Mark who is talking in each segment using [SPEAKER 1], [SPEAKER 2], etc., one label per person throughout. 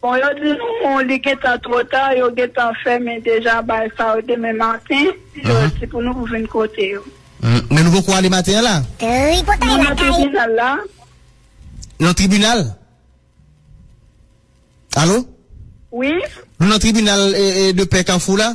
[SPEAKER 1] Bon yo di nou li gentan two ta yo gentan fèmen deja bal sa yo demen maten yo di pou nou pou vin kote yo. Men nou poko ale
[SPEAKER 2] maten an la? Nou nan
[SPEAKER 1] tribinal la.
[SPEAKER 2] Nan tribinal? Alo? Wi.
[SPEAKER 1] Nou nan tribinal
[SPEAKER 2] de pè kafou la?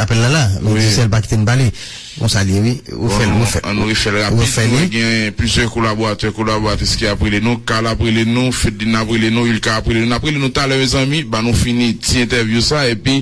[SPEAKER 3] Apèl la la,
[SPEAKER 2] nou di sèl pa kite n pale. Konsa l ye wi. Ou fè l, ou fè l. An nou
[SPEAKER 3] refè l rapid. Nou wè gen plizyè kolaboratè, kolaboratris ki ap rele nou. Carl ap rele nou, Fedline ap rele nou, Ulka ap rele nou. N ap rele nou talè mezanmi. Ban nou fini ti entèvyou sa epi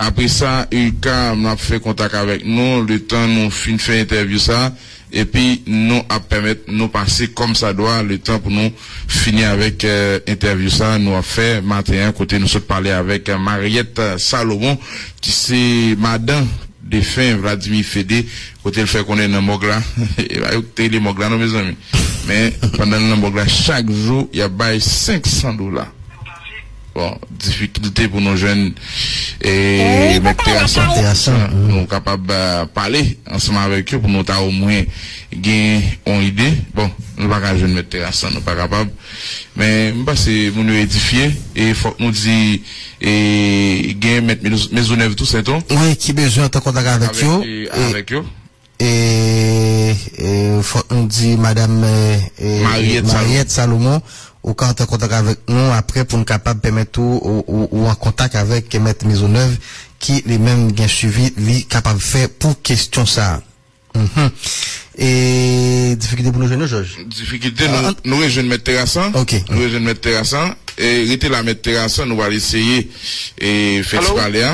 [SPEAKER 3] apre sa Ulka m ap fè kontak avèk nou letan nou fin fè entèvyou sa. epi nou ap pèmèt nou pase kòmsadwa letan pou nou fini avèk entèvyou sa nou ap fè maten an kote nou sot pale avèk Mariette Salomon ki se madan defen Vladimir Fédé kote l fè konnen nan mòg la e pa yo ki te rele mòg la non mezanmi men pandan l nan mòg la chak jou y ap bay 500 dola. Bon, difikilte pou nou jwenn mèt teyas an pou nou kapab pale ansanm avèk yo pou nou ta omwen gen yon ide. Bon, nou pa ka jwenn mèt teyas an, nou pa kapab. Men, m panse moun yo edifye e fòk nou di gen mèt Mezonèv Tousen tou. Wi, ki bezwen antre an
[SPEAKER 2] kontak avèk yo.
[SPEAKER 3] E
[SPEAKER 2] fòk nou di madam Mariette Salomon ou ka antre an kontak avèk nou apre pou n kapab pèmèt ou ou an kontak avèk mèt Maisonneuve ki li menm gen swivi li kapab fè pou kestyon sa a. E difikilte pou nou jwenn yo Jòj? Difikilte nou
[SPEAKER 3] re jwenn mèt Terasan nou re jwenn mèt
[SPEAKER 2] Terasan
[SPEAKER 3] rete la mèt Terasan nou pral eseye fè ti pale a.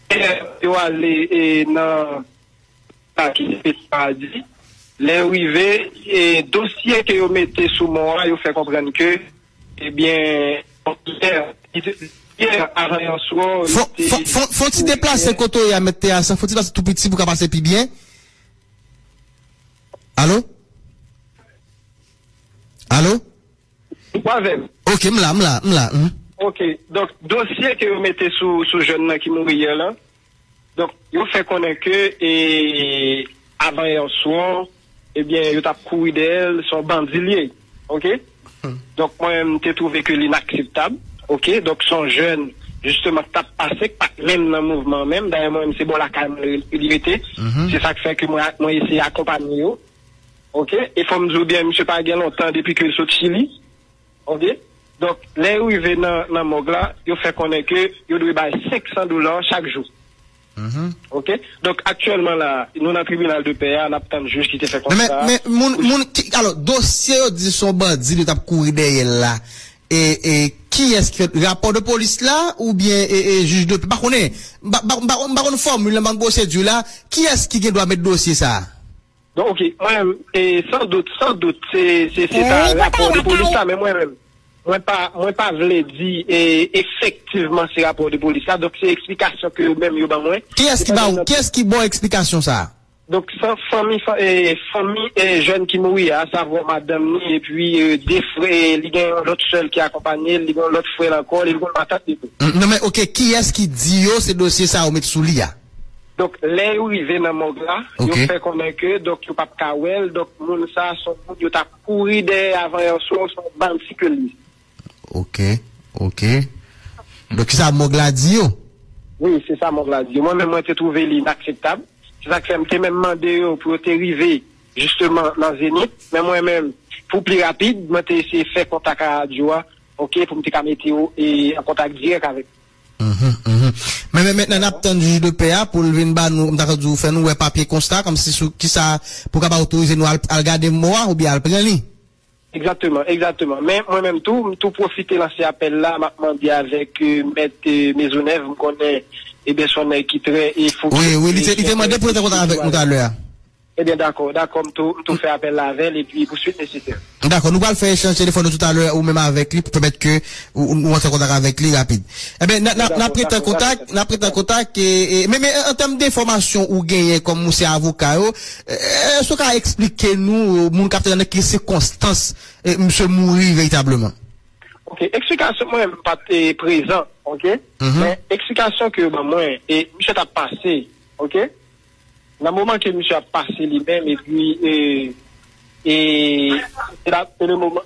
[SPEAKER 4] Pè yo ale nan Pati Pete Madi. Lè yo rive, dosye ke yo mete sou mò a, yo fè konprann ke, ebyen, yè, yè avan yè swò, yo te Fon, fon, fon, fon ti
[SPEAKER 2] deplase kote w ye a, Mèt Teas, fon ti deplase tou piti pou w ka pase pi byen. Alo? Alo? Ou pa avèm? Ok, m la, m la, m la, m. Ok,
[SPEAKER 4] donk dosye ke yo mete sou jèn nan ki mouri yè lan, donk yo fè konnen ke e avan yè swa, ebyen yo tap kouri dèyè l, se yon bandi l ye, ok. Donk mwen menm m te twouve ke l inakseptab, ok, donk se yon jèn jisteman k tap pase, k pat menm nan mouvman an menm, dayè mwen menm se bò lakay mwen li rete, se sa k fè ke mwen eseye akonpanye yo, Ok e fòm diw byen misye pa gen lontan depi ke l sot chili ok donk lè yo rive nan mòg la yo fè konnen ke yo dwe bay 500 dola chak jou ok donk aktyèlman la nou nan tribinal de pè a nap tann jij ki te fè konsta a. Nan men moun moun
[SPEAKER 2] alò dosye yo di son bandi nou tap kouri dèyèl la. E e kiyès ki fèt? Rapò de polis la oubyen e e jij de pè? M pa konnen. M pa m pa m pa konn fòmil la, m pa konn pwosedur la. Kiyès ki gen dwa mèt dosye sa a? Bon ok,
[SPEAKER 4] mwen menm, e san dout, san dout se se se ta rapò de polis la men mwen menm, mwen pa mwen pa vle di e efektivman se rapò de polis la donk se eksplikasyon ke yo menm yo ban mwen. Kiyès ki ba ou,
[SPEAKER 2] kiyès ki ba w eksplikasyon sa a? Donk fanmi
[SPEAKER 4] fanmi jèn ki mouri a asavwa madanm ni epi 2 frè li gen yon lòt sè l ki akonpanye l li gen yon lòt frè l ankò li gen yon matant li tou. Hum nan men ok kiyès
[SPEAKER 2] ki di yo se dosye sa yo met sou li a? Donk lè
[SPEAKER 4] yo rive nan mòg la yo fè konnen ke donk yo pap ka wè l donk moun sa son moun yo ta kouri dèyè avan yon swa ou son bandi ke l ye. Ok
[SPEAKER 2] ok Donk kisa mog la di yo? Wi se
[SPEAKER 4] sa mog la di yo. Mwen menm mwen te twouve li inakseptab. Se sa k fè m te menm mande yo pou yo te rive jisteman nan Zenith. Men mwen menm pou pli rapid mwen te eseye fè kontak a radyo a ok pou m te ka mete yo an kontak dirèk avèk yo. Uhmm
[SPEAKER 2] Men men mentnan n ap tann jij de pè a pou l vin ba nou m ta ka di w fè nou wè papye konsta kòmsi sou kisa pou l ka ba otorize nou al gade mò a oubyen al pran li. Egzakteman,
[SPEAKER 4] egzakteman. Men, mwen menm tou, m tou pwofite lanse apèl la, m ap mande avèk Mèt Mezonèv, m konnen eben s on nèg ki trè e fokis e sou entèrè
[SPEAKER 2] piblik toujou a. Eben dakò,
[SPEAKER 4] dakò, m tou, m tou fè apèl la avè l epi pou suit nesesè. Dakò, nou pral fè echanj
[SPEAKER 2] telefòn nou toutalè ou menm avèk li pou pèmèt ke ou antre an kontak avèk li rapid. Eben, n ap, n ap rete an kontak, n ap rete an kontak e, men, men, an tèm denfòmasyon ou genyen kòm ou se avoka yo, Èske ou ka eksplike nou, moun kapte nan ki sikonstans misye mouri veritableman? Ok,
[SPEAKER 4] eksplikasyon mwen m pat prezan ok, men eksplikasyon ke yo ban mwen e misye tap pase ok, nan moman ke misye ap pase li menm epi e e se la se le moman.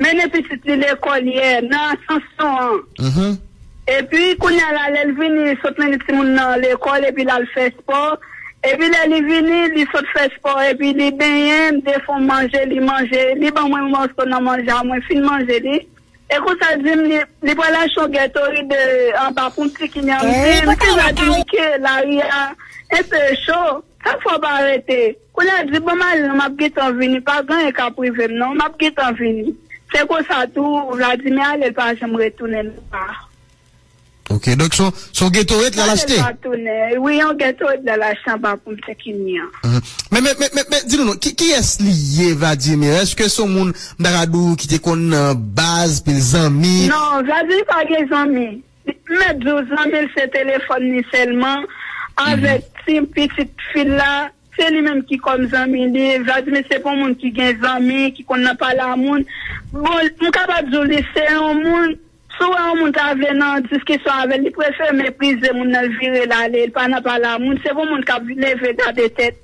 [SPEAKER 1] Mennen pitit li lekòl yè nan Asansyon an. Epi kounye a la lè l vini li sot mennen timoun nan lekòl epi l al fè espò. Epi lè li vini li sot fè espò epi li benyen m defon m manje li manje li ban mwen yon mòso nan manje a mwen fin manje li e konsa l di m li li pral achte yon Gatorade anba pou m pikini an m di m deja di li ke lari a enpe cho chak fwa w pa rete. Koulè di bon mal non map gentan vini pa gen anyen kap rivem non map gentan vini se konsa tou Vladimir ale l pa janm retounen nan pa.
[SPEAKER 2] Ok donk son son ghetto et lal achte. Vladel pa tounen wi yon
[SPEAKER 1] ghetto et lal achte anba pon Pinkini an. Men men men men men
[SPEAKER 2] di nou non ki kiyès li ye Vladimir eske son moun m ta ka di w ki te konn nan baz pil zanmi. Non Vladimir pa
[SPEAKER 1] gen zanmi Mèt di w zanmi l se telefòn li sèlman avèk ti pitit fi l la, se li menm ki kòm zanmi li. Vladimir se pa yon moun ki gen zanmi, ki konn nan pale a moun. Bon, m kapab di w li se yon moun, si w wè yon moun ta vle nan diskisyon avè l, li prefere meprize moun nan, l vire l ale, l pa nan pale a moun. Se pa yon moun k ap leve gade tèt.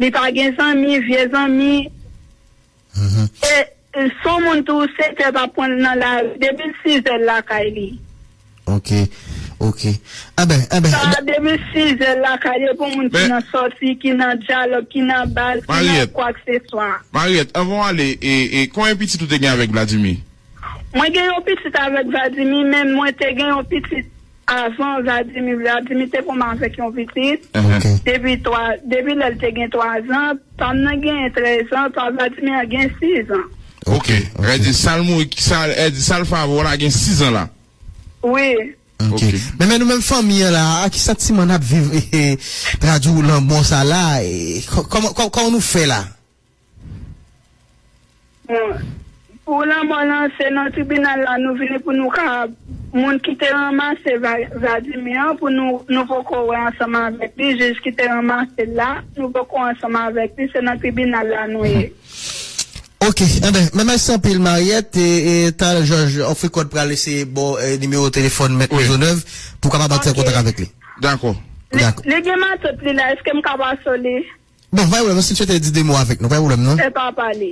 [SPEAKER 1] Li pa gen zanmi, vye zanmi. E si yon moun tou 7 è pa pwanl nan lari depi l 6 è l lakay li. Ok
[SPEAKER 2] ok anben anben. Sa a depi 6
[SPEAKER 1] è l lakay li epi yon moun ki nan sòti, ki nan dyalòg, ki nan bal, ki nan kwakseswa. Mariette anvan w ale
[SPEAKER 3] e konyen pitit ou te gen avèk Vladimir? Mwen gen
[SPEAKER 1] yon pitit avèk Vladimir men mwen te gen yon pitit. Avan Vladimir, Vladimir te konn avèk yon pitit depi twa, depi lè l te gen twazan, pa m nan genyen trèzan, pa Vladimir an gen sizan. Ok, vè
[SPEAKER 3] di sa l mouri, sa l, vè di sa l favò la gen sizan la? Wi.
[SPEAKER 1] Ok.
[SPEAKER 2] Men men nou menm fanmi an la a, kisa ti man ap viv, tradi w lanmò sa la, kòman, kòman nou fè la?
[SPEAKER 1] Bon, pou lanmò lan se nan tribinal la nou vini pou nou ka moun ki te ranmase Vladimir an pou nou, nou poko wè ansanm avèk li, jij ki te ranmase l la, nou poko ansanm avèk li, se nan tribinal la nou ye.
[SPEAKER 2] Ok, anben, mè mèsi anpil Mariette, e talè jòj Ofricot pral eseye ba w nimewo telefòn mèt Mezonèv pou w kapab antre an kontak
[SPEAKER 1] avèk
[SPEAKER 2] li.
[SPEAKER 1] Dakò.
[SPEAKER 2] Li
[SPEAKER 1] gen
[SPEAKER 3] matant
[SPEAKER 2] li la,
[SPEAKER 1] eske m ka
[SPEAKER 2] pase
[SPEAKER 1] w li? Bon,
[SPEAKER 2] pa gen pwoblèm, si Tchète di 2 mo avèk nou, pa gen pwoblèm non. Epa pale.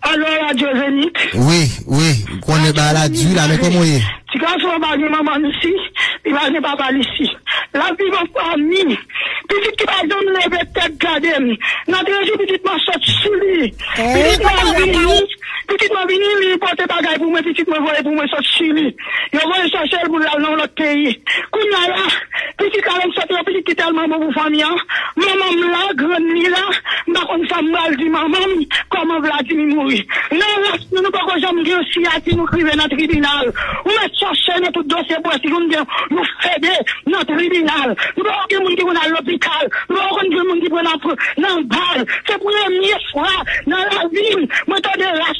[SPEAKER 4] Alo radyo Zenith. Wi, wi, m
[SPEAKER 2] konnen bagay la di la men kòman w ye? Ti gason an pa gen
[SPEAKER 4] manman l isi, li pa gen papa l isi. L ap viv an fanmi. Pitit ki pa janm leve tèt gade m. Natre jou pitit mwen sot sou li. Pitit mwen vini, pitit mwen vini li pote bagay pou mwen, pitit mwen voye pou mwen sot sou li. Yo voye chache l pou l al nan yon lòt peyi. Kounya la, pitit la vin sot nan pitit ki tèlman bon pou fanmi an. Manman m la, grann li la, m pa konn sa m pral di manman m, kòman Vladimir mouri. Nan ras nou, nou poko janm gen yon siyati nou k rive nan tribinal. Ou mèt chache nan tout dosye pou wè si nou gen yon fede nan tribinal. Nou poko gen moun ki konn al lopital. Nou poko konn gen moun ki pran nan bal. Se premye fwa nan lavi m mwen tande ras.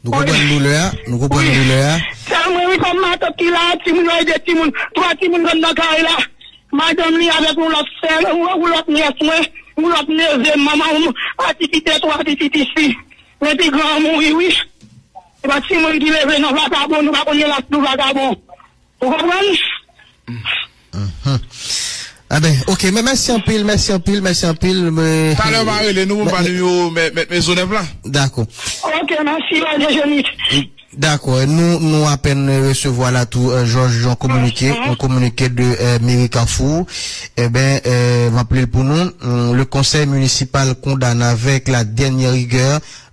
[SPEAKER 1] Nou konprann
[SPEAKER 2] doulè a, nou konprann doulè a.
[SPEAKER 1] Se mwen wi fanm matant ki la a timoun yo e 2 timoun, 3 timoun rann nan kay la. Madanm li avèk yon lòt sè, yon lòt nyès mwen, yon lòt neve m, manman m pa ti kite 3 pitit isi. Men pi gran an mouri wi. Se pa timoun ki leve non vakabon, nou pa konn gen lach nou vakabon. Ou konprann?
[SPEAKER 2] Amen ok men mèsi anpil mèsi anpil mèsi anpil mwen.
[SPEAKER 3] Talè m'a rele nou pou m ba nou nimewo mèt Mezonèf la. Dakò. Ok mèsi
[SPEAKER 1] Bondye Jezi. Dakò
[SPEAKER 2] nou apèn resevwa la tou Jòj yon kominike yon kominike de meri Kafou eben m'ap li l pou nou le conseil municipal condamne avec la dernière rigueur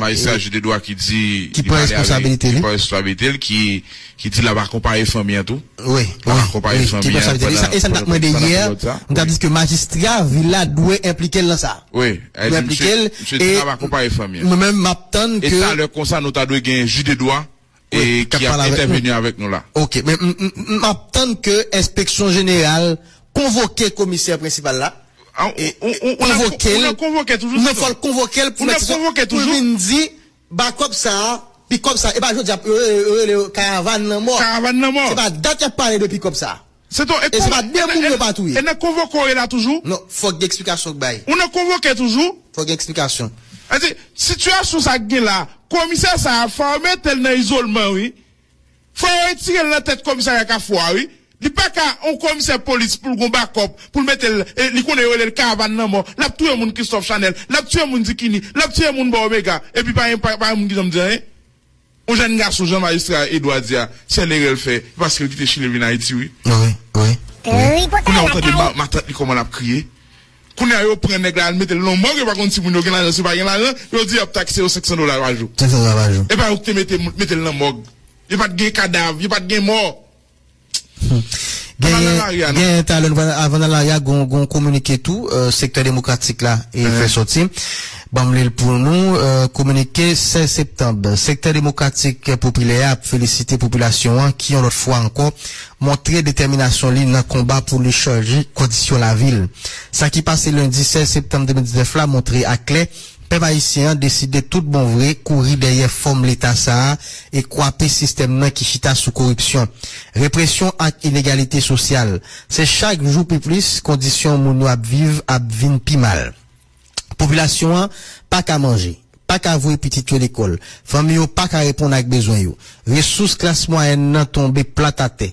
[SPEAKER 2] Majistra Jude
[SPEAKER 3] Edouard ki di li pale avèk, ki
[SPEAKER 2] pran responsabilite l,
[SPEAKER 3] ki di l ap akonpaye fanmi an tou, l ap akonpaye fanmi an pandan peryòd sa. E sa m t ap mande
[SPEAKER 2] yè, m t ap di ke majistra vil la dwe enplike l nan sa. Wi, li di msye
[SPEAKER 3] di l ap akonpaye fanmi an. Mwen menm m ap tann ke.
[SPEAKER 2] E talè konsa nou ta dwe
[SPEAKER 3] gen Jude Edouard e ki ap entèveni avèk nou la. Ok, men
[SPEAKER 2] m ap tann ke enspeksyon jeneral konvoke komisè prensipal la,
[SPEAKER 3] konvoke l, non fò l konvoke l
[SPEAKER 2] pou l vin di ba kòb sa a pi kòb sa a, e pa jodi a yo rele yo karavàn lanmò, se pa dat y ap pale de pi kòb sa a. Se to e se pa
[SPEAKER 3] de moun yo pa
[SPEAKER 2] touye. E nan konvoke w ye la
[SPEAKER 3] toujou? Non, fòk gen eksplikasyon
[SPEAKER 2] k bay. Ou nan konvoke toujou?
[SPEAKER 3] Fòk gen eksplikasyon.
[SPEAKER 2] Sa di, sitiyasyon
[SPEAKER 3] sa k gen la, komisè sa a fò yo mete l nan izolman wi. Fò yo retire l nan tèt komisarya Kafou a wi. Li pa ka yon komisè polis pou l gon bakòp, pou l mete l, e li konnen yo rele l karavan lanmò. L ap touye moun Kristòf Chanèl, l ap tiye moun Dikini, l ap tiye moun bò Omega, epi pa gen pa gen moun ki janm di anyen. On jèn gason jan majistra Edouard di a sèl erè l fè e paske l kite chili l vin ayiti wi.
[SPEAKER 5] Kounya ou tande matant
[SPEAKER 3] li kòman lap kriye kounya yo pran nèg la al metel nan mòg yo pa konn si moun yo gen lajan si yo pa gen lajan yo di yap takse yo 500 dola pa jou epa yo
[SPEAKER 2] ki te metel
[SPEAKER 3] nan mòg yo pat gen kadav yo pat gen mò. Genyen
[SPEAKER 2] talen avan nan lari a gon kominike tou sektè demokratik la e fè soti banm li l pou nou kominike 16 septanb sektè demokratik popilè a ap felisite popilasyon an ki yon lòt fwa ankò montre detèminasyon li nan konba pou li chanje kondisyon lavi l sa ki pase lendi 16 septanb 2019 la montre aklè Pèp ayisyen an deside tout bon vre kouri dèyè fòm Leta sa a e kwape sistèm nan ki chita sou koripsyon, represyon ak inegalite sosyal. Se chak jou pi plis kondisyon moun yo ap viv ap vin pi mal. Popilasyon an pa ka manje, pa ka voye pitit yo lekòl, fanmi yo pa ka reponn ak bezwen yo. Resous klas mwayèn nan tonbe plat atè.